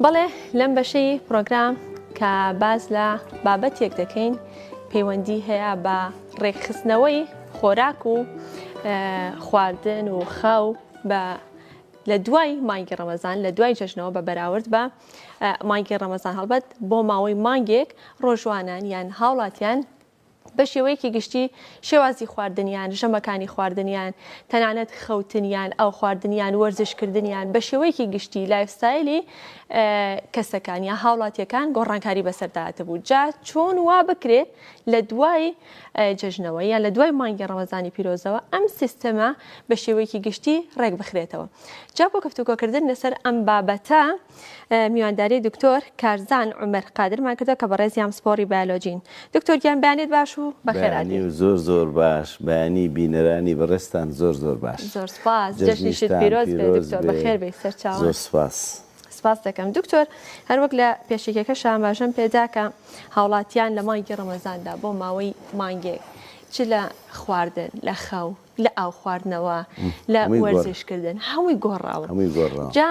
بەڵێ لەم بەشەی پرۆگرام کە باز لە بابەتێک دەکەین پەیوەندی هەیە بە ڕێکخستنەوەی خۆراک و خواردن و خاو بە لە دوای مانگی ڕەمەزان لە دوای جەژنەوە بە بەراورد بە مانگی ڕەمەزان هەڵبەت بۆ ماوەی مانگێک ڕۆژوانان یان هاوڵاتیان بە شێوەیەکی گشتی شێوازی خواردنیان، ژەمەکانی خواردنیان، تەنانەت خەوتنیان، ئاو خواردنیان، وەرزش کردنیان، بە شێوەیەکی گشتی لایفستایلی کەسەکان یا هاوڵاتیەکان گۆڕانکاری بەسەردا هاتبوو، جا چۆن وا بکرێت لە دوای جەژنەوە یان لە دوای مانگی ڕەمەزانی پیرۆزەوە ئەم سیستەمە بە شێوەیەکی گشتی ڕێک بخرێتەوە جا بۆ گفتوگۆکردن لەسەر ئەم بابەتە میوانداری دکتۆر کارزان عومەر قادرمان کردوە کە بەڕێزیان پسپۆڕی بایۆلۆجین. دکتۆر گیان بەیانیت باش و بەخێر هاتیت. بەیانی و زۆر زۆر باش، بەیانی بینەرانی بەڕێزتان زۆر زۆر باش. زۆر سوپاس، جەژنیشت پیرۆز بێ دکتۆر، بەخێر بێی سەرچاوان. زۆر سوپاس. سوپاست دەکەم. دکتۆر هەر وەک لە پێشەکیەکەشا ئاماژەم پێدا کە هاوڵاتیان لە مانگی ڕەمەزاندا بۆ ماوەی مانگێک چ لە خواردن، لە خەو، لە ئاو خواردنەوە، لە وەرزش کردن هەمووی گۆڕاوە. جا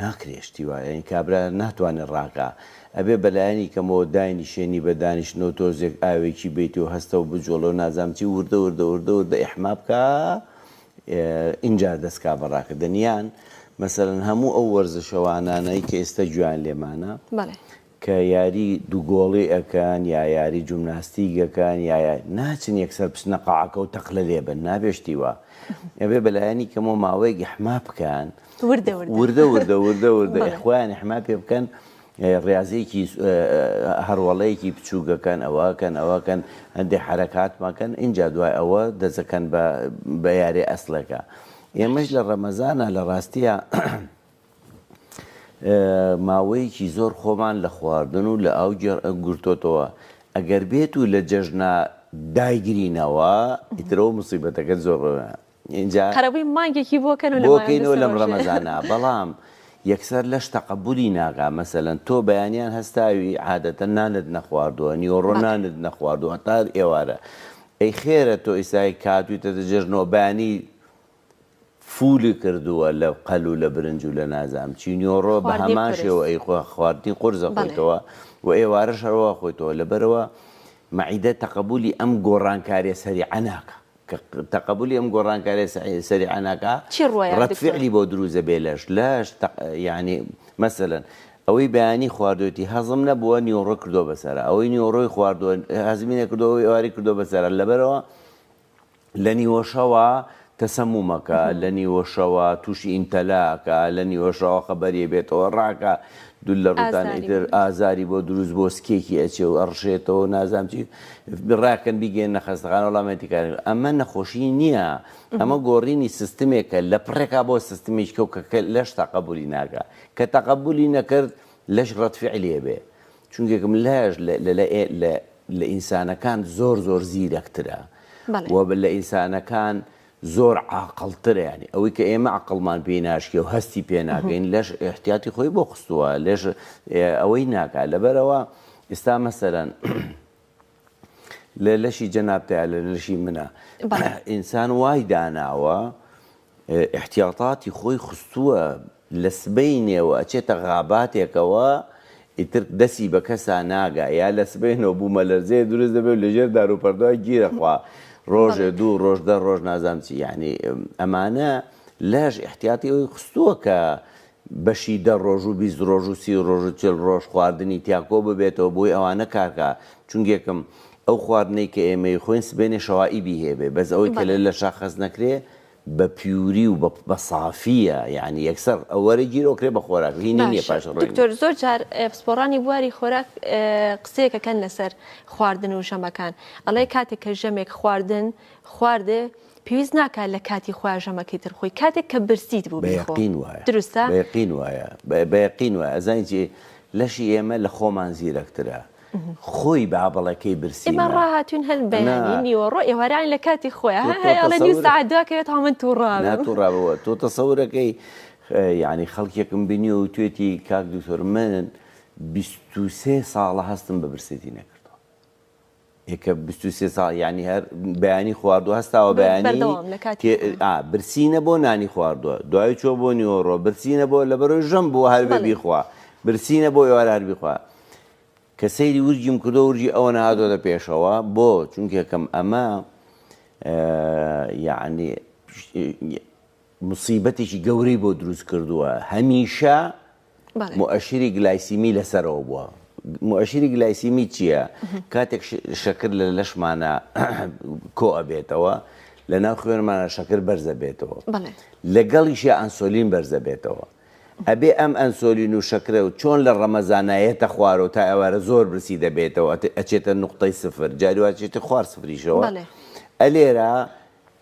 ناکرێ شتی وا یانی کابرا ناتوانێ ڕاکا ئەبێ بەلایەنی کەمەوە داینیشێنی بە دانیشتنەوە تۆزێک ئاوێکی بیتیو هەستەو بجۆڵێو نازام چی وردە وردە وردە وردە ئیحما بکا ئینجا دەست کا بە ڕاکردن یان مەسەلەن هەموو ئەو وەرزشەوانانەی کە ئێستا گوێیان لێمانە کە یاری دوو گۆڵی ئەکەن یا یاری جومناستیک ئەکەن یا یا ناچن یەکسەر بچنە قاعەکە و تەقلە لێ بەن نابێ شتی وا ئەبێ بە لایەنی کەمەوە ماوەیەک ئیحما بکەن وردە وردە وردە وردە وردە وردە بەڵێ. خۆیان ئیحما پێ بکەن ئێ ڕیازیەکی هەڕوەڵەیەکی بچووک ئەکەن ئەوە ئەکەن ئەوە ئەکەن هەندێ حەرەکات مەکەن ئینجا دوای ئەوە دەست ئەکەن بە بە یارێ ئەسڵێکا ئێمەش لە ڕەمەزانا لە ڕاستیا ماوەیەکی زۆر خۆمان لە خواردن و لە ئاو گرتۆتەوە ئەگەر بێت و لە جەژنە دایگرینەوە ئیتر ئەوە موسیبەتەکە زۆر بەوێ ئینجا قەرەبووی مانگێکی بۆ کەن و لە بۆ مانگی کەینەوە لەم سەرۆژێ. ڕەمەزانە بەڵام یەکسەر لەش تەقەبولی ناکا مەسەلەن تۆ بەیانیان هەستاوی عادەتەن نانت نەخواردووە نیوەڕۆ بەڵێ. نانت نەخواردووە هەتا ئێوارە ئەی خێرە تۆ ئیسای کاتوویتەتە جەژنەوە بەیانی فولی کردووە لە قەل و لە برنج و لە نازام چی نیۆڕۆ بە هەمان شێوە ئەیخوا خواردنی قورس ئەخۆیتەوە و ئێوارەش هەروا ئەخۆیتەوە لەبەرئەوە مەعیدە تەقەبولی ئەم گۆڕانکاریە سەریعە ناکا کە تەقەبولی ئەم گۆڕانکاریە سەریعە ناکا ڕەد فعلی بۆ دروست دەبێ لەش لەش یانی مەسەلەن ئەوەی بەیانی خواردوێتی هەزم نەبووە نیۆڕۆ کردووە بەسەرا ئەوەی نیۆڕۆی خواردووە هەزمی نەکردووە ئەوەی ئێواری کردووە بەسەرا لەبەرەوە لە نیوەشەوا تەسەمومەکە، لە نیوەشەوا تووشی ئیمتەلا ئەکا، لە نیوەشەوا خەبەری ئەبێتەوە ڕاکە دوور لە ڕووتان ئازاری ئیتر بۆ ئازاری بۆ دروست بۆ سکێکی ئەچێ و ئەڕشێتەوە نازانم چی ڕاکەن بیگەیەننە خەستەخانە وەڵا مێتی کار نەکرد. ئەمە نەخۆشی نییە ئەمە گۆڕینی سستمێکە لە پڕێکا بۆ سستمیچکە و کە کە لەش تەقەبولی ناکا کە تەقەبولی نەکرد لەش ڕەتفعلی ئەبێ چونکە گملاش لە ئینسانەکان زۆر زۆر زیرەکترە بەڵێ. و لە ئینسانەکان زۆر عاقڵترە یانی ئەوەی کە ئێمە عەقڵمان پێی ناشکێ و هەستی پێ ناکەین لەش ئیحتیاتی خۆی بۆ خستووە لێش ئەوەی ناکا لەبەرەوە ئێستا مەسەرەن لە لەشی جەنابتە لە لەشی منە بەڵێ. ئینسان وای داناوە ئیحتیاتاتی خۆی خستووە لە سبەینێوە ئەچێتە غاباتێکەوە ئیتر دەسی بە کەسا ناگا یا لە سبەینەوە بوومەلەرزەیە دروست دەبێ و لەژێر داروپەردووا گیر ئەخوا ڕۆژێ دوو ڕۆژ دە ڕۆژ نازانم چی یەعنی ئەمانە لاش ئیحتیاتی ئەوی خستووە کە بەشی دە ڕۆژ و بیست ڕۆژ و سی ڕۆژ و چل ڕۆژ خواردنی تیا کۆ ببێتەوە بۆی ئەوانە کارکە چونگێکم ئەو خواردنەی کە ئێمە ئیخۆین سبەینێ شەوائیبی هێبێ بەس ئەوەی کە لە لە شاخەز نەکرێ بە پیوری و بە سافیە یانی یەکسەر ئەوەرە گیر ئۆکرێ بە خۆراک هی نی نیە پاش ڕۆی دکتۆر زۆر جار پسپۆڕانی بواری خۆراک قسەیەکە کەن لەسەر خواردن و ژەمەکان ئەڵێ کاتێک کە ژەمێک خواردن خواردێ پێویست ناکات لە کاتی خۆیا ژەمەکەی تر بخۆی کاتێک کە برسیت بوو بیخۆ بەیەقین وایە دروستە؟ بەیەقین وایە بەیەقین وایە ئەزانی چی لەشی ئێمە لە خۆمان زیرەکترە خۆی با بەڵێ کەی برسیمە ئێمە ڕاهاتوین هەر بەیانی نیوەڕۆ ئێوارانی لە کاتی خۆیان هەر هەیە ئەڵێ نیو سەعات دوا کەوێت هەڵ من تووڕام نا تووڕابەوە تۆ تەسەورەکەی یعنی خەڵکێکم بینی و توێتی کاک دکتۆر من بیست و سێ ساڵە هەستم بە برسێتی نەکردووە کە بیست و سێ ساڵ یانی هەر بەیانی خواردوە هەستاوە بەیانی برسینە بۆ نانی خواردوە دوای چۆ بۆ نیۆڕۆ برسینە بۆ لە بەرۆی ژەم بۆ هەر بیخوا برسینە بۆ ئێوار هەر بیخوا کە سەیری ورجیم کردو ورجی ئەوە نهادۆ لە پێشەوە بۆ چونکێکم ئەمە یعنی مصیبەتێکی گەورەی بۆ دروست کردووە هەمیشە موئەشری گلایسیمی لەسەرەوە بووە. موئەشری گلایسیمی چییە؟ کاتێک شەکر لە لەشمانا کۆ ئەبێتەوە، لە ناو خوێنمانا شەکر بەرز ئەبێتەوە. لەگەڵیشیا ئەنسۆلین بەرز ئەبێتەوە. ئەبێ ئەم ئەنسۆلین و شەکرە و چۆن لە ڕەمەزانا یەتە خوارەوە تا ئێوارە زۆر برسی دەبێتەوە ئەچێتە نوقتەی سفر جاری وا ئەچێتە خوار سفریشەوە. ئەلێرە.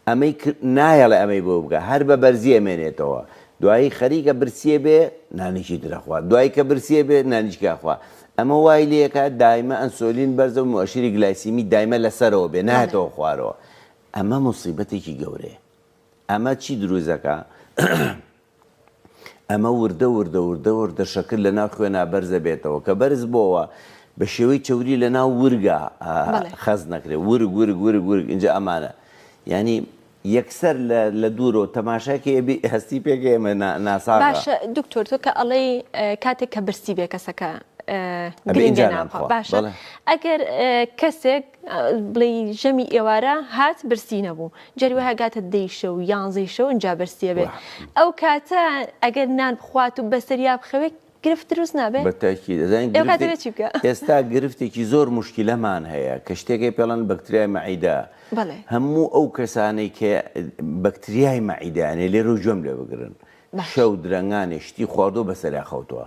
ئەمەی کرد نایەڵێ ئەمەی بۆ بکە هەر بە بەرزی ئەمێنێتەوە دوایی خەریکە برسیێ بێ نانیکی تر ئەخوا دوایی کە برسیێ بێ نانیکی ئەخوا ئەمە وای لێ ئەکا دایمە ئەنسۆلین بەرزە و موئەشیری گلایسیمی دایمە لە سەرەوە بێ بەڵێ. نایەتەوە خوارەوە ئەمە موسیبەتێکی گەورەیە ئەمە چی دروست ئەکا ئەمە وردە وردە وردە وردە شەکر لە ناو خوێنا بەرز دەبێتەوە کە بەرز بۆوە بە شێوەی چەوری لە ناو ورگا خەز نەکرێت ورگ ورگ ورگ ورگ اینجا ئەمانە ینی یەکسەر لە دوورەوە تەماشاکە ئەبی هەستی پێکە ئێمە ناسا باشە دکتۆر تۆ کە ئەڵەی کاتێک کە برسی بێ کەسەکە باشە ئەگەر کەسێک بڵێی ژەمی ئێوارە هات برسی نەبوو جاری وایە گاتە دەی شەو و یانزەی شەو ئینجا برسیە بێ ئەو کاتە ئەگەر نان بخوات و بەسەریا بخەوێت گرفت دروست نابێت بە تاکی دەزانین ئێ کاتە بێ چی بکە ئێستا گرفتێکی زۆر مشکلەمان هەیە کە شتێکی پێڵەن بەکتریای مەعیدە هەموو ئەو کەسانەی کە بەکتریای مەعیدانێ لێرە و گوێم لێ بگرن شەو درەنگانێ شتی خواردۆ بەسەریا خەوتووە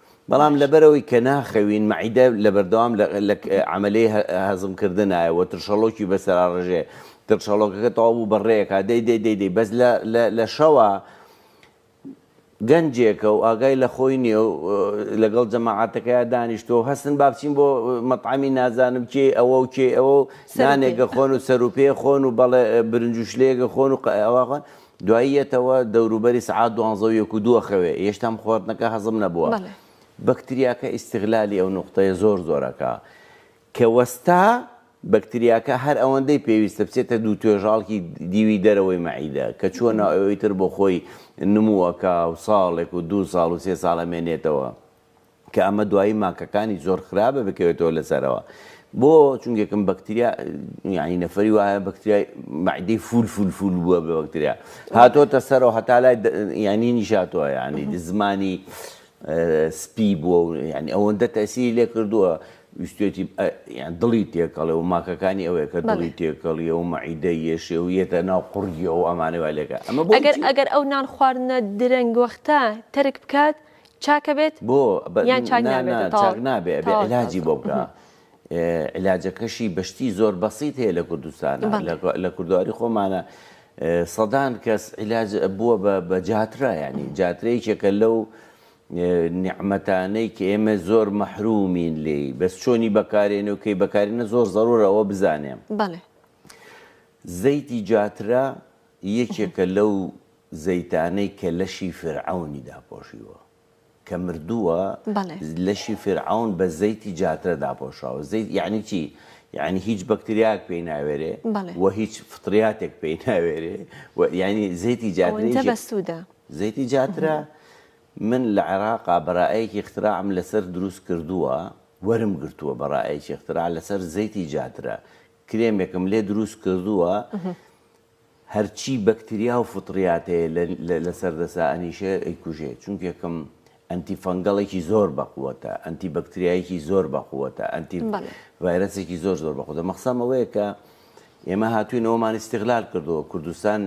بەڵام لەبەرئەوەی کە ناخەوین مەعیدە لەبەردەوام لە عەمەلەی هەزم کردنایە و ترشەڵۆکی بەسەراڕژێ ترشەڵۆکەکە تەواو بوو بە ڕێکا دەی دەی دەی دەی بەس لە شەوە گەنجێکە و ئاگای لە خۆی نیە و لەگەڵ جەماعاتەکەیا دانیشتۆ هەستن با بچین بۆ مەطعامی نازانم کێ ئەوە و کێ ئەوە نانێگە خۆن و سەروپێ خۆن و بەڵێ برنجوشلێگە خۆن و ئەوە دوایی یەتەوە دەوروبەری سەعات دوانزە و یەک و دووە خەوێ یێشتام خواردنەکە هەزم نەبووە بەڵێ. بەکتریاکە ئیستغلالی ئەو نوقتەیە زۆر زۆر ئەکا کە وەستا بەکتریاکە هەر ئەوەندەی پێویستە بچێتە دوو توێژاڵکی دیوی دەرەوەی مەعیدە کە چووە ناو ئەوەی تر بۆ خۆی نموو ئەکا و ساڵێک و دوو ساڵ و سێ ساڵ ئەمێنێتەوە. کە ئەمە دوایی ماکەکانی زۆر خراپە بکەوێتەوە لەسەرەوە بۆ چونکە کەم بەکتریا یعنی نەفری وایە بەکتریای معدەی فول فول فول بووە بە بەکتریا هاتۆتە سەرەوە هەتا لای ینی نیشاتوە ینی زمانی سپی بووە و ینی ئەوەندە تەسی لێ کردووە ویستێتی دڵی تێکەڵێ و ماکەکانی ئەوەیە کە دڵی تێکەڵیە و مەعیدە یەشێ و یەتە ناو قڕیە و ئەمانەوە لێکە ئەمە ئەگەر ئەگەر ئەو نان خواردنە درەنگ وەختە تەرک بکات چاک بێت بۆ بە یان چاک نا نابێت نا تەواو چاک نابێ ئەبێ تەواو علاجی تەواو بۆ بکا ئێ علاجەکەشی بە شتی زۆر بەسیت هەیە لە کوردستانا بەڵێ لە گۆ لە کوردەواری خۆمانا ئێ سەدان کەس علاج بووە بە بە جاترا یانی جاترە یەکێکە لەو ئێ نیعمەتانەی کە ئێمە زۆر مەحرومین لێی بەس چۆنی بەکارێنێ و کەی بەکارێنە زۆر زەرورە ئەوە بزانێ بەڵێ زەیتی جاترە یەکێکە لەو زەیتانەی کە لەشی فیرعەونی داپۆشیوە کە مردووە بەڵێ. لەشی فیرعەون بە زەیتی جاترە داپۆشراوە زەیت یەعنی چی یەعنی هیچ بەکتریایەک پێی ناوێرێ بەڵێ. وە هیچ فطریاتێک پێی ناوێرێ و یەعنی زەیتی ئەوەنجە جاترەیشی بەسوودە. زەیتی جاترە من لە عێراقا بەرائەیەکی اختراعم لەسەر دروست کردووە وەرم گرتووە بەرائەیەکی اختراع لەسەر زەیتی جاترە کرێمێکم لێ دروست کردووە هەرچی بەکتریا و فطریات هەیە لە لەسەر دەسا ئەنیشێ ئەیکوژێ چونکە یەکەم ئەنتی فەنگەڵێکی زۆر بەقوەتە ئەنتی بەکتریایەکی زۆر بەقوەتە ئەنتی ڤایرەسێکی زۆر زۆر بەخۆتە مەخسەم ئەوەیە کە ئێمە هاتووینەوەمان ئیسیغلال کردەوە کوردستان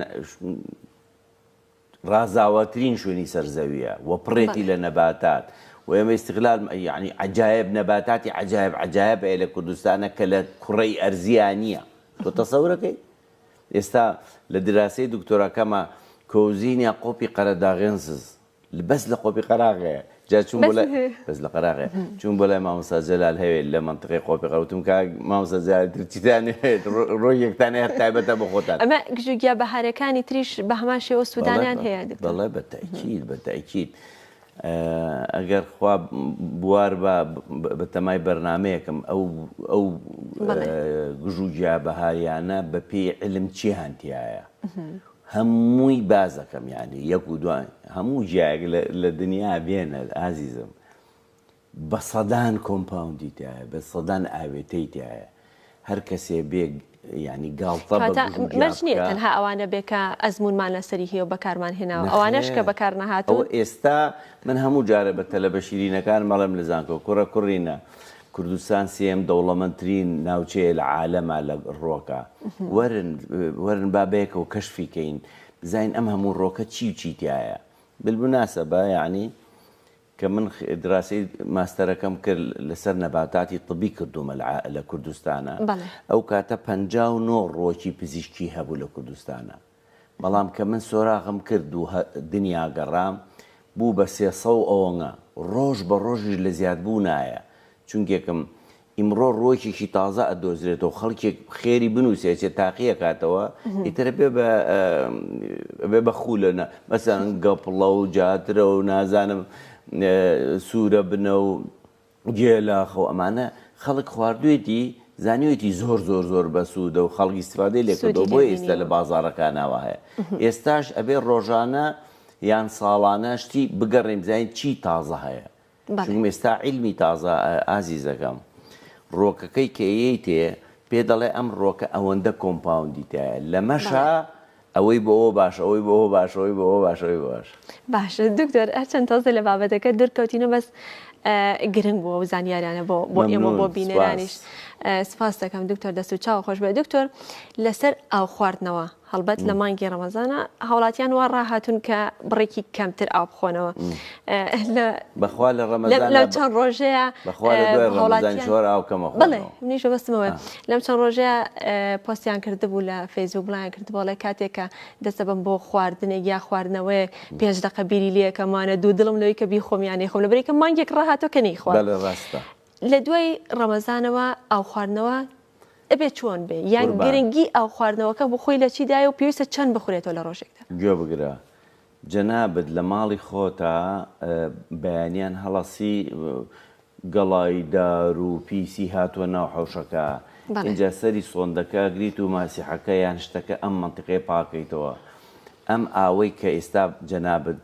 ڕازاوەترین شوێنی سەر زەویە و پڕێتی بەڵێ. لە نەباتات و ئێمە ئیستغلال یانی عەجایب نەباتاتی عەجایب عەجایب هەیە لە کوردستانا کە لە کوڕەی ئەرزیا نیە تۆ تەسەور ئەکەی ئێستا لە دراسەی دکتۆراکەما کۆزینیا قۆپی قەرەداغێنسز بەس لە قۆپی قەراغێ جا چووم بۆ لای بەس لە قەراغێ چووم بۆ لای مامۆستا جەلال هەوێ لە منطقەی قۆپی قەوتم کا مامۆستا جەلال تر چیتان نەوێت ڕۆ یەکتان هەیە تایبەتە بە خۆتان ئەمە گژو گیا بەهارەکانی تریش بە هەمان شێوە سوودانیان هەیە دکتۆر. بەڵێ بە تەئکید بە تەئکید ئە، ئەگەر خوا بوار با بە تەمای بەرنامەیەکم ئەو ئەو بەڵێ. گژو گیا بەهاریانە بە پێی علم چییان تایە هەمووی باس دەکەم یانی یەک و دوان هەموو جیایەک لە دنیا بێنە ئازیزم بە سەدان کۆمپاوندی تایە بە سەدان ئاوێتەی تایە هەر کەسێ بێ یانی گاڵتە بە گژو جیا بکا. مەرج نییە تەنها ئەوانە بێ کە ئەزموونمان لەسەری هەیە و بەکارمان هێناوە. نەخێر. ئەوانەش کە بەکار نەهاتوون. ئەوە ئێستا من هەموو جارە بە تەلەبە شیرینەکانم ئەڵێم لە زانکۆ کوڕە کوڕینە کوردستان سێیەم دەوڵەمەندترین ناوچەیە لە عالەما لە ڕۆکە وەرن وەرن با بەیەکەوە کەشفی کەین بزانین ئەم هەموو ڕۆکە چی و چی تایە بالمناسبە یعنی کە من دراسەی ماستەرەکەم کرد لەسەر نەباتاتی طبی کردومە لە کوردستانە ئەو کاتە پەنجا و نۆ ڕۆکی پزیشکی هەبوو لە کوردستانە بەڵام کە من سۆراغم کرد و دنیا گەڕام، بوو بە سێ سەو ئۆنگە، ڕۆژ بە ڕۆژیش لە زیاد بوونایە، چونکێکم ئیمڕۆ ڕووەکێکی تازە ئەدۆزرێتەوە، خەڵکێک خێری بنووسێ ئەچێ تاقی ئەکاتەوە، ئیتر ئەبێ بە ئەبێ بە خوولە نە مەسەن گەپڵە و جاترە و نازانم سوورە بنە و. گێلا خۆ ئەمانە خەڵک خواردوێتی زانیوێتی زۆر زۆر زۆر بەسودە و خەڵک ئیستفادەی لێ کردوە بۆیە ئیستا لە بازاڕەکانا وا هەیە ئێستاش ئەبێ ڕۆژانە یان ساڵانە شتی بگەڕێین بزانین چی تازە هەیە چونکم ئێستا عیلمی تازە ئازیزەکەم ڕۆکەکەی کە یەیتێ پێ دەڵێ ئەم ڕۆکە ئەوەندە کۆمپاوندی تایە لەمەشە ئەوەی بۆ ئەوە باشە ئەوەی بۆ ئەوە باشە ئەوەی بۆ ئەوە باشە ئەوەی بۆ ئەوە باشە. باشە دکتۆر هەرچەند تازە لە بابەتەکە دورکەوتینە بەس گرنگ بوو ئەو زانیاریانە بۆ بۆ ئێمە بۆ مەمنون بینەرانیش سپاس. سپاس دەکەم دکتۆر دەست و چاو خۆش بێ دکتۆر لەسەر ئاو خواردنەوە هەڵبەت لە مانگی ڕەمەزانە هاوڵاتیان وا ڕاهاتون کە بڕێکی کەمتر ئاو بخۆنەوە بەخوا لە ڕەمەزان لەم چەند ڕۆژەیە بەخوا لە دوای ڕەمەزان زۆر ئاو کەمە خۆ بڵێ منیشە بەستمەوە لەم چەند ڕۆژەیە پۆستیان کردبوو لە فەیسبوک بڵیان کرد بەڵێ کاتێکە دەستە بم بۆ خواردنێک یا خواردنەوەی پێنج دقە بیری لەکەمانە دوو دڵم لەوەی کە بیخۆمیانەی خۆم لە بریکە مانگێک ڕاهاتۆ کە نەیخوا ڕاستە لە دوای ڕەمەزانەوە ئاو خواردنەوە ئەبێ چۆن بێ یان گرنگی ئاو خواردنەوەکە بخۆی لە چیدایە و پێویستە چەند بخورێتەوە لە ڕۆژێکدا گوێ بگرە جەنابت لە ماڵی خۆتا بەیانیان هەڵەسی گەڵای دار و پیسی هاتوە ناو حەوشەکە ئینجا سەری سۆندەکە ئەگریت و ماسیحەکە یان شتەکە ئەم مەنتیقەیە پاکەیتەوە ئەم ئاوەی کە ئیستا جەنابت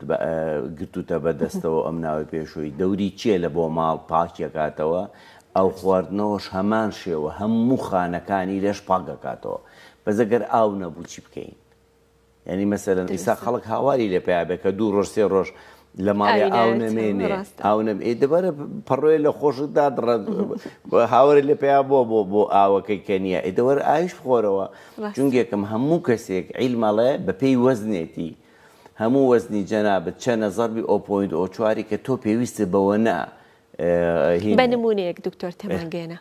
گرتوتە بە دەستەوە ئەم ناوەی پێشوی دەوری چیە لە بۆ ماڵ پاکی ئەکاتەوە ئەو خواردنەوەش هەمان شێوە هەموو خانەکانی لەش پاک ئەکاتەوە بەس ئەگەر ئاو نەبوو چی بکەین یانی مەسەلەن ئیستا خەڵک هاواری لێ پیا بێ کە دوو ڕۆژ سێ ڕۆژ لە ماڵی ئاو نەمێنێ ئاو نەبێ دەبارە پەڕۆێ لە خۆشتدا دڕە هاوارە لە پیا بۆ بۆ بۆ ئاوەکەی کە نییە ئیدەوەر ئایش بخۆرەوە جونگێکم هەموو کەسێک عیلمەڵێ بەپێی وەزنێتی هەموو وەزنی جەنابەت چەنە زەربی ئۆپۆینت ئۆچواری کە تۆ پێویستت بەوە نا بە نموونەیەک دکتۆر تێمان گەیەنە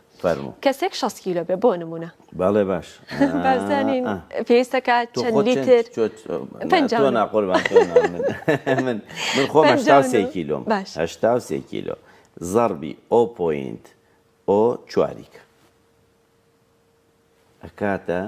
کەسێک شەست کیلۆ بێ بۆ نموونە باڵێ باش بازانین پێویستەکە چەند لیتر من خۆ هەشتا سێ کیلۆم هەشتا سێ کیلۆ زەڕبی ئۆ پۆینت ئۆ چواریکە ئەکاتە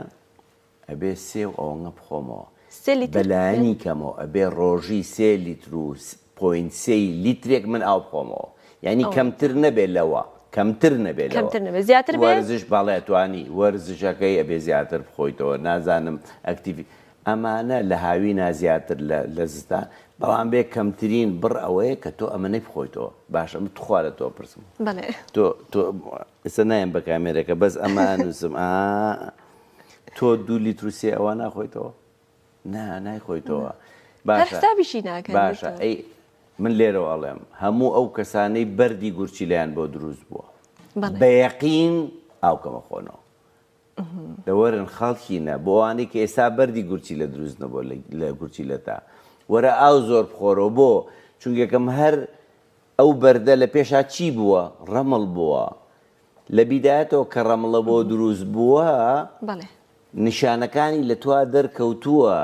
ئەبێ سێ و ئەوەنگە بخۆمەوە سێ لیتر؟ بە لایەنی کەمەوە ئەبێ ڕۆژی سێ لیتر و پۆینت سێی لیترێک من ئاو بخۆمەوە یانی کەمتر نەبێ لەوە کەمتر نەبێ لەوە کەمتر نەبێ زیاتر بێ؟ وەرزش بەڵێ توانی وەرزشەکەی ئەبێ زیاتر بخۆیتەوە نازانم ئەکتیڤی ئەمانە لە هاوینا زیاتر لە لە زستان بەڵام بێ کەمترین بڕ ئەوەیە کە تۆ ئەمەنەی بخۆیتەوە باشە من توخوا لە تۆ بپرسم بەڵێ. تۆ تۆ ئێستا نایەم بە کامێرەکە بەس ئەمە ئەنووسم ئا تۆ دوو لیتر و سێ ئەوە ناخۆیتەوە نا نایخۆیتەوە باشتابیشی ناکە باشە ئەی من لێرەوە ئەڵێم هەموو ئەو کەسانەی بەردی گورچیلیان بۆ دروست بووە بە یەقین ئاوکەمە خۆنەوە دەوەرن خەڵکینە بۆ ئەوانەی کە ئێستا بەردی گورچی لە دروست نەبوو لە گورچی لە تا وەرە ئاو زۆر بخۆرەوە بۆ چونگەکەم هەر ئەو بەردە لە پێشا چی بووە؟ ڕەمڵ بووە. لە بیدایەتەوە کە ڕەمڵە بۆ دروست بووە، نیشانەکانی لە تۆا دەرکەوتووە،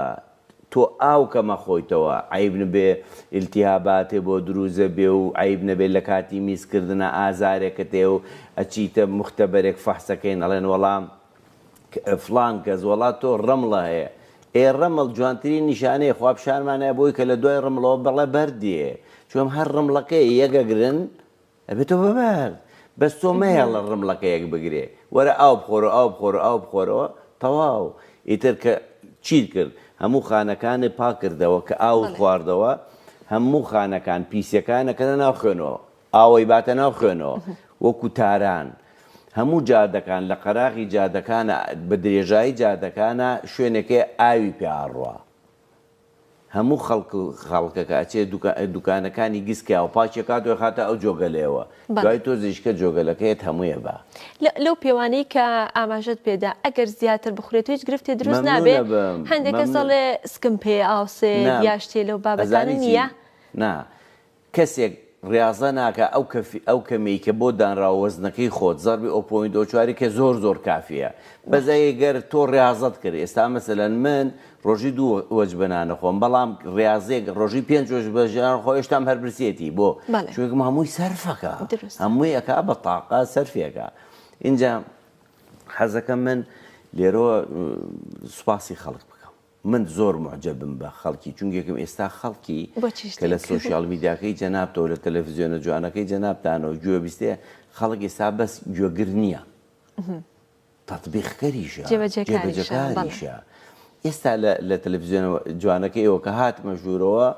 تۆ ئاو کەم ئەخۆیتەوە، عەیب نەبێ ئیلتیهاباتێ بۆ دروست ئەبێ و عەیب نەبێ لە کاتی میزکردنا ئازارێکت هەیە و ئەچیتە موختەبەرێک فەحسەکەین ئەڵێن وەڵا فڵان کەس، وەڵا تۆ ڕەمڵە هەیە. ئێ ڕەمڵ جوانترین نیشانەیە، خوا پیشانمانە بۆی کە لە دوای ڕەمڵەوە بەڵە بەرد دێ. چۆن هەر ڕەمڵەکە یەکە گرن ئەبێتەوە بە بەرد. بەس تۆ مەهێڵە ڕەمڵەکە یەک بگرێ. وەرە ئاو بخۆرەوە ئاو بخۆرەوە ئاو بخۆرەوە تەواو. ئیتر کە چیت کرد هەموو خانەکانت پاک کردەوە کە ئاوت خواردەوە هەموو خانەکان پیسیەکانە کەنە ناو خوێنەوە. ئاوەی باتە ناو خوێنەوە وەکو تاران. هەموو جادەکان لە قەراغی جادەکانە بە درێژایی جادەکانە شوێنێک هەیە ئاوی پێ ئاڕوا. هەموو خەڵک و خەڵکەکە ئەچێ دوکا دوکانەکانی گس کە ئاو پاکی ئەکات و ئەخاتە ئەو جۆگەلەیەوە. بەڵێ. دوای تۆ زیشکە جۆگەلەکەیەت هەمووی ئەبا. لە لەو پێوانەی کە ئاماژەت پێ دا ئەگەر زیاتر بخورێت هیچ گرفتێ دروست نابێ؟ مەمنون ئەبم. هەندێک کەس مەمنون. ئەڵێ سکم پێ ئاوسێت نا. یا شتێ لەو بابەتانە ئەزانی چی؟ نییە؟ نا. کەسێک ریاضە ناکا ئەو کەفی ئەو کەمیەی کە بۆ دانراوە وەزنەکەی خۆت زەربی ئەو پۆینت ئەو چواری کە زۆر زۆر کافیە بەس ئەی گەر تۆ ریاضەت کرد ئێستا مەسەلەن من رۆژی دوو وەجبە نان ئەخۆم بەڵام ریاضیەک رۆژی پێنج وەجبە ژان ئەخۆ ئێشتام هەر برسیەتی بۆ چویکم هەمووی سەرفەکا هەمووی ئەکا بە تاقە سەرفی ئەکا ئینجا حەزەکەم من لێرۆ سوپاسی خەڵک بکەم. من زۆر موعجەبم بە خەڵکی چونکێکم ئێستا خەڵکی کە لە سۆشیال میدیاکەی جەنابتەوە لە تەلەفزیۆنە جوانەکەی جەنابتانەوە گوێ بیستێ خەڵک ئێستا بەس گوێگر نییە تەطبیقکەریشە جێبەجەکانیشە ئێستا لە تەلەفزیۆن جوانەکە ئێوە کە هاتمە ژوورەوە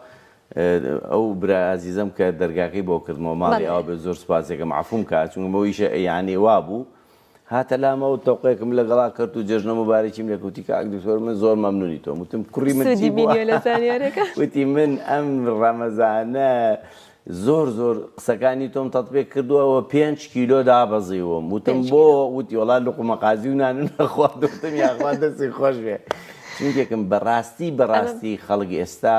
ئەو برا ئازیزم کە دەرگاکەی بۆ کردمەوە ماڵی ئەو بە زۆر سپاسێکم عفوم کە چونمەوەیشە یانێ وا بوو هاتە لامەوەو تۆقێکم لەگەڵا کەرت و جەژنە موبارەکیم لێ کوتی کاک دکتۆر من زۆر مەمنونی تۆم وتم کوڕی من چی بووە وتی من ئەم ڕەمەزانە زۆر زۆر قسەکانی تۆم تەطبێک کردووەوە پێنج کیلۆ دابەزیوم وتم بۆ وتی وڵا لقومە قازی و نان نەخواردوتم یاخوا دەستی خۆش بێ چونکێکم بەڕاستی بەڕاستی خەڵک ئێستا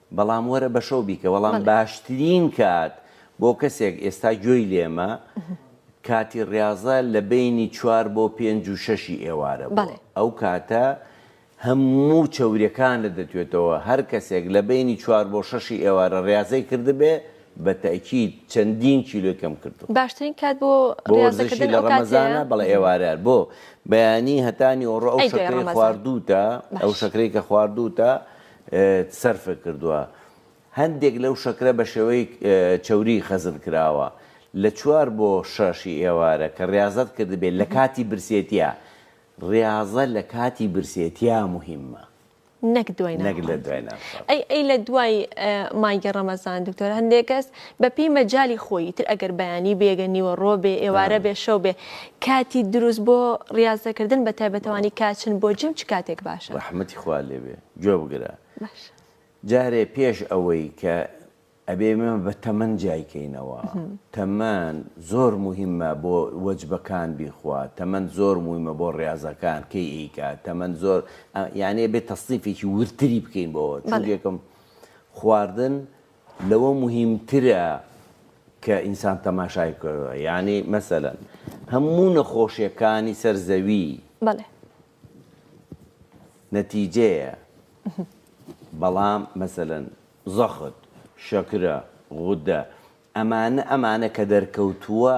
بەڵام وەرە بەشەو بیکە. وەڵام باشترین کات بۆ کەسێک ئێستا گوێی لێمە کاتی ڕیاضە لە بەینی چوار بۆ پێنج و شەشی ئێوارە بۆ ئەو کاتە هەموو چەوریەکانت دەتوێتەوە هەر کەسێک لە بەینی چوار بۆ شەشی ئێوارە ڕیاضەی کردبێ بە تەئکید چەندین کیلۆی کەم کردووە. باشترین کات بۆ ڕیاضە کردن ئەو کاتەیە. بۆ وەرزشی لە ڕەمەزانە بەڵێ ئێوارە بۆ بەیانی هەتا نیوەڕۆ ئەو شەکرەی خواردووتە ئەو شەکرەی کە خواردووتە ت سەرفە کردوە هەندێک لەو شەکرە بە شێوەی چەوری خەزن کراوە لە چوار بۆ شەش ی ئێوارە کە ریازەت کردبێت لە کاتی برسێتیا ریازە لە کاتی برسێتیا موهیمە نەک دوای نان خواردن ئەی لە دوای مایگە رەمەزان دکتۆر هەندێک کەس بە پێی مەجالی خۆی ئیتر ئەگەر بەیانی بێگە نیوەڕۆ بێ ئێوارە بێ شەو بێ کاتی دروست بۆ ڕیازە کردن بە تایبەتەوانی کاچن بۆ جیم چ کاتێک باشە؟ ڕەحمەتی خوا لێ بێ گوێ بگرە باشە. جارێ پێش ئەوەی کە ئەبێ ئێمە بە تەمەن جیای کەینەوە تەمەن زۆر موهیمە بۆ وەجبەکان بیخوا تەمەن زۆر مویمە بۆ ڕاضەکان کەی ئەیکا تەمەن زۆر یانێ بێ تەسنیفێکی ورتری بکەین بۆەوە چونکێکم خواردن لەوە موهیمترە کە ئینسان تەماشای بکەوێ یانی مەسەلەن هەموو نەخۆشیەکانی سەر زەوی بەڵێ نەتیجەیە بەڵام مەسەلەن زەخت شەکرە غودە ئەمانە ئەمانە کە دەرکەوتووە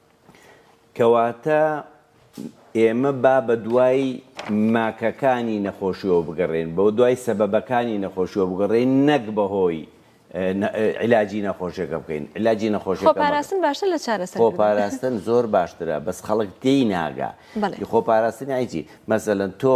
کەواتە ئێمە با بە دوای ماکەکانی نەخۆشیەوە بگەڕێن بۆ دوای سەبەبەکانی نەخۆشیەوە بگەڕێن نەک بەهۆی علاجی نەخۆشیەکە بکەین علاجی نەخۆش خۆپاراستن باشتر لە چارەسەر خۆپاراستن زۆر باشترە بەس خەڵک تێی ناگا خۆپاراستنی ئایجی مەسەلەن تۆ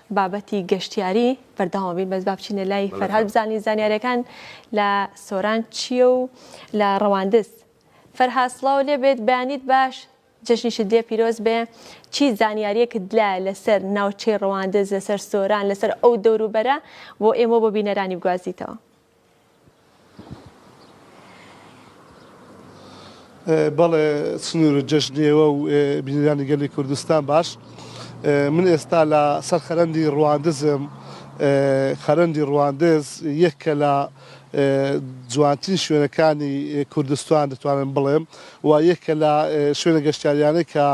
بابەتی گەشتیاری بەردەوام بین بەس با بچینە لای فەرهاد بزانین زانیارەکان لە سۆران چییە و لە ڕەواندز فەرهاد سڵاو لێ بێت بەیانیت باش جەژنی شدێ پیرۆز بێ چی زانیاریەکت لایە لەسەر ناوچەی ڕەواندز لەسەر سۆران لەسەر ئەو دەوروبەرە بۆ ئێمە بۆ بینەرانی بگوازیتەوە. بەڵێ سنور و جەژن ئێوە و بینەرانی گەلی کوردستان باش من ئێستا لە سەر خەرەندی ڕواندزم خەرەندی ڕواندز یەکە لە جوانترین شوێنەکانی کوردستان دەتوانم بڵێم و یەکە لە شوێنە گەشتیاریانە کە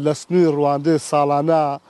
لە سنووی ڕواندز ساڵانە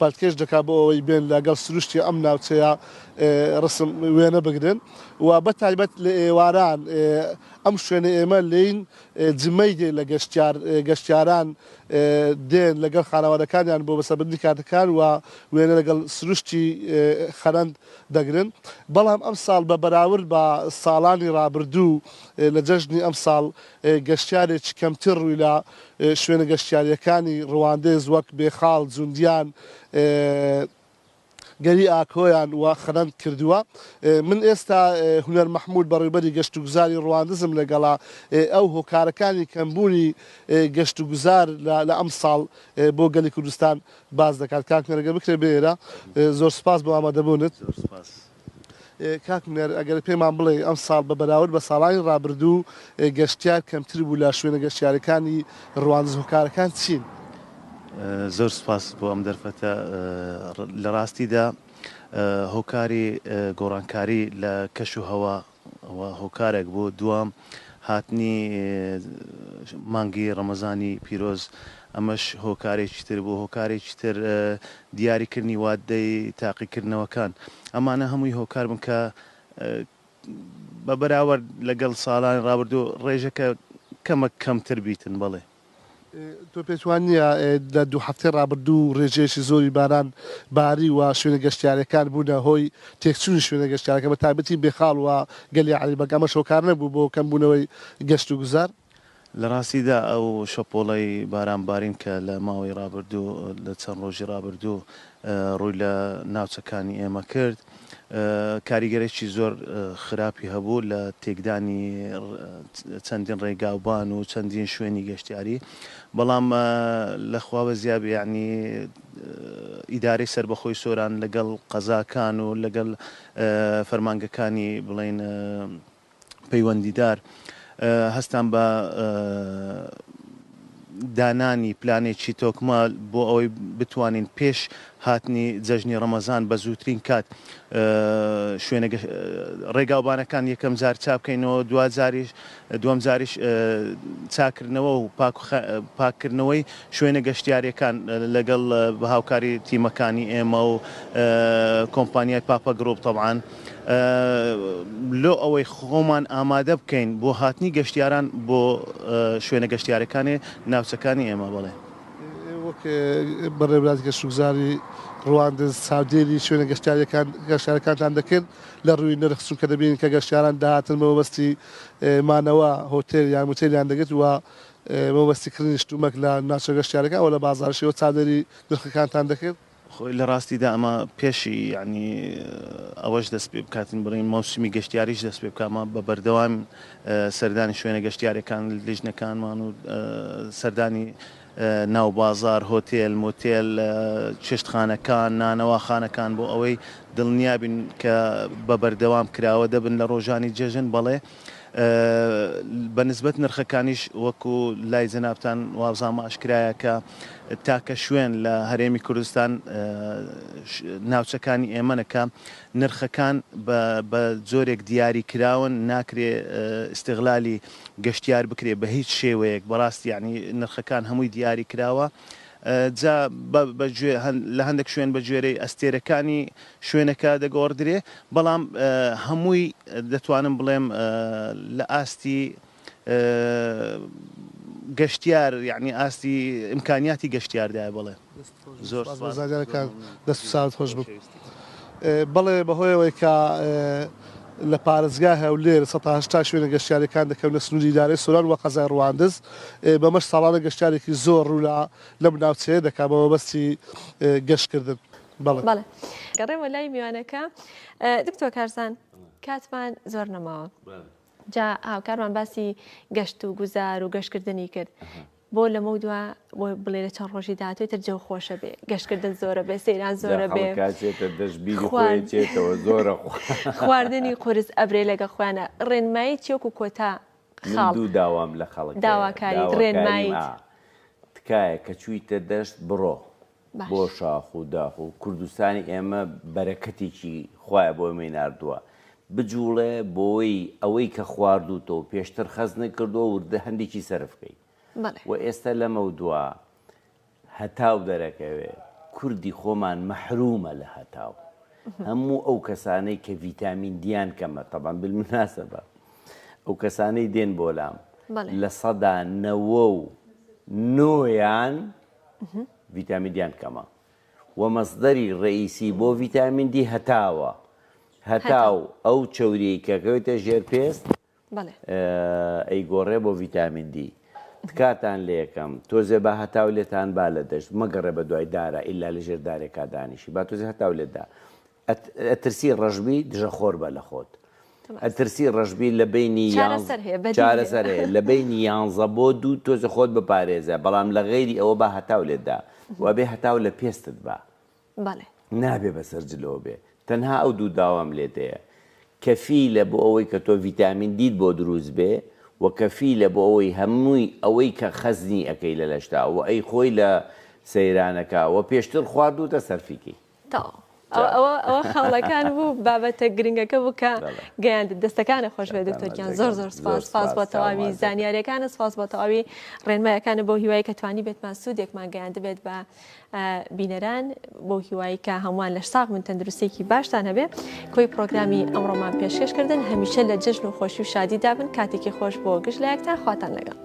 پەلکێش دەکات بۆ ئەوەی بێن لە گەڵ سروشتی ئەم ناوچەیە ڕسم وێنە بگرن و بە تایبەت لە ئێواران ئەم شوێنە ئێمە لێین جمەی دێ لە گەشتیار گەشتیاران دێن لەگەڵ خانەوادەکانیان بۆ بەسەبردنی کاتەکان و وێنە لەگەڵ سروشتی خەرەند دەگرن بەڵام ئەم ساڵ بە بەراورد بە ساڵانی ڕابردوو لە جەژنی ئەم ساڵ گەشتیارێکی کەمتر ڕووی لە شوێنە گەشتیارییەکانی ڕواندز وەک بێخاڵ، جوندیان، گەلی ئاکۆیان و خەرەند کردووە. من ئێستا هونەر مەحموود بەڕێوبەری گەشتوگوزاری ڕواندزم لەگەڵە، ئەو هۆکارەکانی کەمبوونی گەشتوگوزار لە ئەمساڵ بۆ گەلی کوردستان باس دەکات. کاک هونەر ئەگەر بکرێت بێیەرە. زۆر سوپاس بۆ ئامادەبوونت. کاک نەر ئەگەر پێمان بڵێی ئەمساڵ بە بەراورد بە ساڵانی ڕابردوو گەشتیار کەمتر بوو لە شوێنە گەشتیارەکانی ڕواندز هۆکارەکان چین؟ زۆر سوپاس بۆ ئەم دەرفەتە لە ڕاستیدا هۆکاری گۆڕانکاری لە کەش و هەوا ئەوە هۆکارێک بوو، دووەم هاتنی مانگی ڕەمەزانی پیرۆز ئەمەش هۆکارێکی تر بوو، هۆکارێکی تر دیاریکردنی وادەی تاقیکردنەوەکان، ئەمانە هەمووی هۆکار بوون کە بە بەراوەرد لەگەڵ ساڵانی ڕابردوو ڕێژەکە کەمەک کەمتر بیتن بەڵێ. تۆ پێت وا نییە لە دوو هەفتەی ڕابردوو ڕێژەیەکی زۆری باران باری و شوێنە گەشتیارەکان بوونە هۆی تێکچوونی شوێنە گەشتیارەکان بە تایبەتی بێخاڵ و گەلی عەریبەگ ئەمەش هۆکار نەبوو بۆ کەم بوونەوەی گەشت و گوزار؟ لە ڕاستیدا ئەو شەپۆڵەی باران بارین کە لە ماوەی ڕابردوو لە چەند ڕۆژی ڕابردوو ڕووی لە ناوچەکانی ئێمە کرد کاریگەریی زۆر خراپی هەبوو لە تێکدانی چەندین ڕێگاوبان و چەندین شوێنی گەشتیاری بەڵام لە خواوە زیاب یعنی ئیدارەی سەربەخۆی سۆران لەگەڵ قەزاکان و لەگەڵ فەرمانگەکانی بڵین پەیوەندیدار هەستان بە دانانی پلانێکی تۆکمە بۆ ئەوەی بتوانین پێش هاتنی جەژنی ڕەمەزان بە زووترین کات شوێنە ڕێگاوبانەکان یەکەم جار چاپکەینەوە دو جاریش دوم جاریش چاکردنەوە و پاککردنەوەی شوێنە گەشتیارەکان لەگەڵ بە هاوکاری تیمەکانی ئێمە و کۆمپانیای پاپە گرروپ طبعاان. لۆ ئەوەی خۆمان ئامادە بکەین بۆ هاتنی گەشتیاران بۆ شوێنە گەشتیارەکانی ناوچەکانی ئێمە بەڵێ. وەک بەڕێوبەرایەتی گەشتوگوزاری ڕواندز چاودێری شوێنە گەشتیاریەکان گەشتیارەکانتان دەکرد لە ڕووی نرخ چونکە دەبینین کە گەشتیاران دەهاتن بە مەبەستی مانەوە هۆتێل یان موتێلیان دەگرت وە بە مەبەستی کڕینی شتومەک لە ناوچە گەشتیارەکان وە لە بازاڕیش ئێوە چاودێری نرخەکانتان دەکرد خۆی لە ڕاستیدا ئەمە پێشی یەعنی ئەوەش دەست پێ بکاتن بڕین مەوسمی گەشتیاریش دەست پێ بکات مە بە بەردەوام سەردانی شوێنە گەشتیارەکان لیژنەکانمان و سەردانی ناو بازار هۆتێل مۆتێل چێشتخانەکان نانەواخانەکان بۆ ئەوەی دڵنیابین کە بە بەردەوام کراوە دەبن لە ڕۆژانی جەژن بەڵێ بە نسبەت نرخەکانیش وەکو لای جەنابتان وابزانم ئاشکرایە کە تاکە شوێن لە هەرێمی کوردستان ناوچەکانی ئێمەە کە نرخەکان بە جۆرێک دیاری کراون ناکرێ ئستغلالی گەشتیار بکرێ بە هیچ شێوەیەک بەڕاستی یعنی نرخەکان هەمووی دیاری کراوە جا بە گوێ لە هەندێک شوێن بە گوێرەی ئەستێرەکانی شوێنەکە دەگۆڕدرێ بەڵام هەمووی دەتوانم بڵێم لە ئاستی گەشتیار یانی ئاستی ئیمکانیاتی گەشتیاردایە بەڵێ زۆر دەست ساوت خۆش بک بەڵێ بەهۆیەوەی کە لە پارێزگا هەولێر 1970 شوێنە گەشتارەکان دەکەونە سنووری دارێ سۆران وە قەزای ڕواندز بەمەش ساڵانە گەشتارێکی زۆر ڕوولا لەم ناوچەیە دەکا بە مەبەستی گەشتکردن. بەڵێ گەڕێمە لای میوانەکە دکتۆ کارزان کاتمان زۆر نەماوە جا هاوکارمان باسی گەشت و گوزار و گەشتکردنی کرد بۆ لەمە دوا بۆ بڵێ لە چەند ڕۆژی دااتێت تر جەو خۆشە بێ گەشتکردن زۆرە بێ سەیران زۆرە بێ دەشبیێتەوە زۆرە خواردنی قرس ئەبرێ لەگە خۆیانە ڕێنمایی چێک و کۆتا خاڵ و داوام لە خەڵک داواکاری ڕێنمایی تکایە کە چوویتە دەشت بڕۆ بۆ شاخ و داخ و کوردستانی ئێمە بەرەکەتێکی خوایە بۆ ئێمەی ناردووە بجوڵێ بۆی ئەوەی کە خواردووتە و پێشتر خەزنە کردووە وردە هەندێکی سەرف کەی و ئێستا لەمەو دوا هەتاو دەرەکەوێ کوردی خۆمان مەحرومە لە هەتاو هەموو ئەو کەسانەی کە ڤیتامین دیان کەمە تەبان بالمناسە بە ئەو کەسانەی دێن بۆلام لە سەدا نەوە و نۆیان ڤیتامین دیان کەمە و مەسدەری ڕەئیسی بۆ ڤیتامین دی هەتاوە هەتاو ئەو چەوریی کەکەوێتە ژێر پێست ئەی گۆڕێ بۆ ڤیتامین دی تکاتان لەکەم تۆزێ بە هەتاو لێتان با لە دەشت مەگەڕێ بە دوای دارە ئللا لە ژێر دارێکا دانیشی با تۆزی هەتاو لێدا ئەترسی ڕەشبی دژە خۆر بە لە خۆت ئەترسی ڕەشبی لە بینی چارەسەر هەیە لە بینی یانزە بۆ دوو تۆزە خۆت بپارێزە بەڵام لە غێری ئەوە بە هەتاو لێدا وابێ هەتاو لە پێستت بە نابێ بەسەر جلەوە بێ تەنها ئەو دوو داوام لێتەیە کەفیلە بۆ ئەوەی کە تۆ ڤیتامین دیت بۆ دروست بێ و کەفیلە بۆ ئەوەی هەمووی ئەوەی کە خەزنی ئەەکەی لە لەشتا و ئەی خۆی لە سەیرانەکە و پێشتر خواردوتە سەرفیکەی. تەواو ئەوە ئەوە خاڵەکان بوو بابەتە گرنگەکە بوو کە گەیاندت دەستەکانە خۆش بێ دکتۆر گیان زۆر زۆر سپاس سپاس بۆ تەواوی زانیارەکانە سپاس بۆ تەواوی ڕێنمایەکانە بۆ هیوای کە توانی بێتمان سوودێکمان گەیاند بێت بە بینەران بۆ هیوایی کە هەمووان لە ساق من تەندروستێکی باشتان هەبێ کۆی پرۆگرامی ئەمڕۆمان پێشکەشکردن هەمیشە لە جژن و خۆشی و شادی دابن کاتێکی خۆش بۆ گشت لایەکتان خواتان لەگەڵ